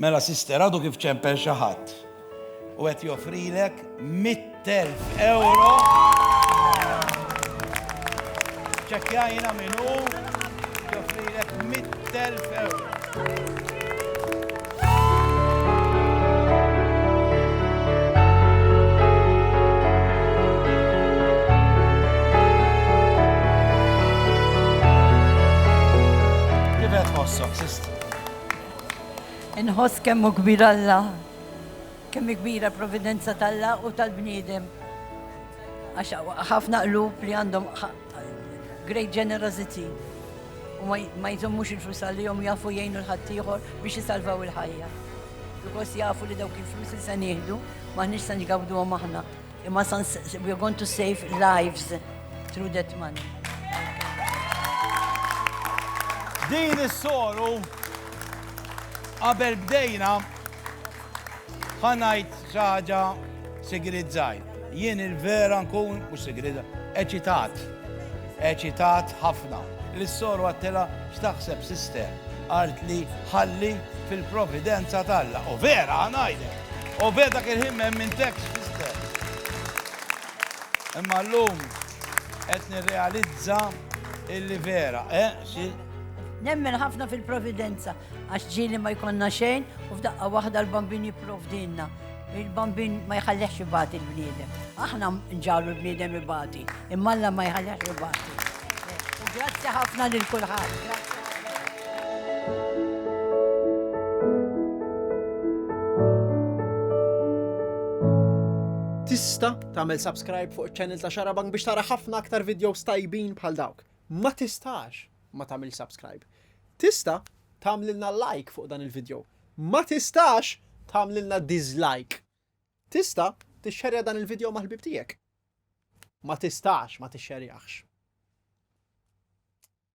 Mela sister għadu kif ċempel xi ħadd u qed joffrilek 100,000 euro. Ċekkjajna min hu joffrilek 100,000 euro. Inħoss kemm hu kbir Alla, kemm hi kbira providenza t'Alla u tal-bniedem. Għax ħafna qlub li għandhom great generosity u ma jżommux il-flus għalihom jafu jgħinu l-ħaddieħor biex jisalvaw il-ħajja. Because jafu li dawk il-flus li se nieħdu maħniex se nġgawduhom aħna. Imma san we are going to save lives through that money. Din is-soru qabel bdejna ħanajt ċaġa sigrizzaj. Jien il-vera nkun u sigrizza eċitat. Eċitat ħafna. Lis-Sor għadtilha x'taħseb Sister? Qaltli ħalli fil-providenza t'Alla. U vera ħa ngħidlek. U vera dak il-ħin ma emmintekx Sister. Imma llum qed nirrealizza illi vera, eh xi? Nemmen ħafna fil-providenza. Għax ġieli ma jkollna xejn u f'daqqa waħda l-bambin jipprovdilna. Il-bambin ma jħallehx ibati l-bniedem. Aħna nġalu l-bniedem ibati, imma Alla ma jħallehx ibati. U grazzi ħafna lil kulħadd. Grazzi. Tista tagħmel subscribe fuq iċ-channel ta' Xarabank biex tara ħafna aktar videos tajbin bħal dawk. Ma tistax! ma tagħmilx subscribe. Tista' tagħmlilna like fuq dan il-video. Ma tistax tagħmlilna dislike. Tista' tixxerja dan il-video mal-ħbib tiegħek. Ma tistax ma tixxerjaħx.